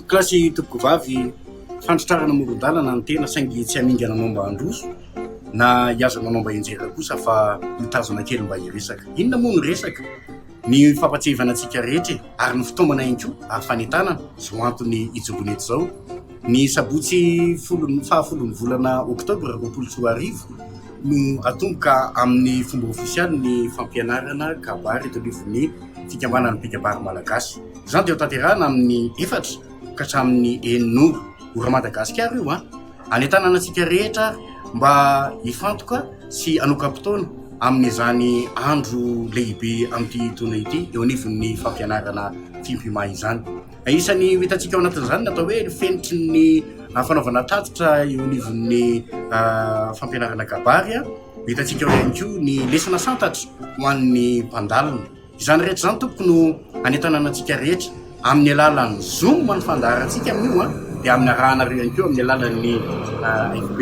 Gasy tompoko vavy fandratrarana amoron-dalana ny tena saingy tsy hamingana anao mba handroso na hihaza manao mba henjera kosa fa mitazana kely mba hiresaka. Inona moa ny resaka? Ny fampatsiahivana antsika rehetra e! Ary ny fitaomana ihany koa ary fanentanana izao antony hijoroana eto izao. Ny sabotsy folo faha folon'ny volana oktobra roapolo sy roa arivo no atomboka amin'ny fomba ofisialy ny fampianarana kabary eto anivon'ny fikambanan'ny mpikabary malagasy. Izany dia hotanterahina amin'ny efatra ka hatramin'ny enina ora. Ora Madagasikara io an! Anentanana antsika rehetra ary mba hifantoka sy hanoka-potoana amin'izany andro lehibe amin'ity taona ity eo anivon'ny fampianarana Fimpima izany. Isan'ny ho hitantsika ao anatin'izany ny atao hoe ny fenitry ny fanaovana tatitra eo anivon'ny fampianarana kabary an! Ho hitantsika ao ihany koa ny lesona santatra ho an'ny mpandalina. Izany rehetra izany tompoko no hanentanana antsika rehetra amin'ny alalan'ny zoom ny fandaharantsika amin'io an, dia amin'ny arahanareo ihany koa amin'ny alalan'ny FB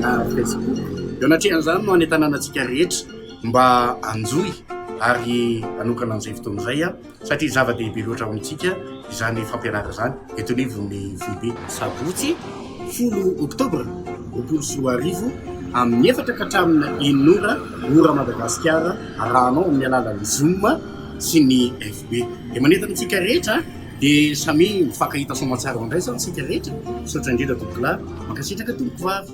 na Facebook. Eo anatrehan'izany no hanentanana antsika rehetra mba hanjohy ary hanokana an'izay fotoana izay an, satria zava-dehibe loatra ho antsika izany fampianarana izany eto anivon'ny foibe. Sabotsy folo oktobra roapolo sy roa arivo amin'ny efatra ka hatramin'ny enina ora ora Madagasikara. arahanao amin'ny alalan'ny zoom sy ny FB dia manentana antsika rehetra dia samy mifankahita soamantsara andraisana isika rehetra, misaotra indrindra tompokolahy, mankasitraka tompokovavy.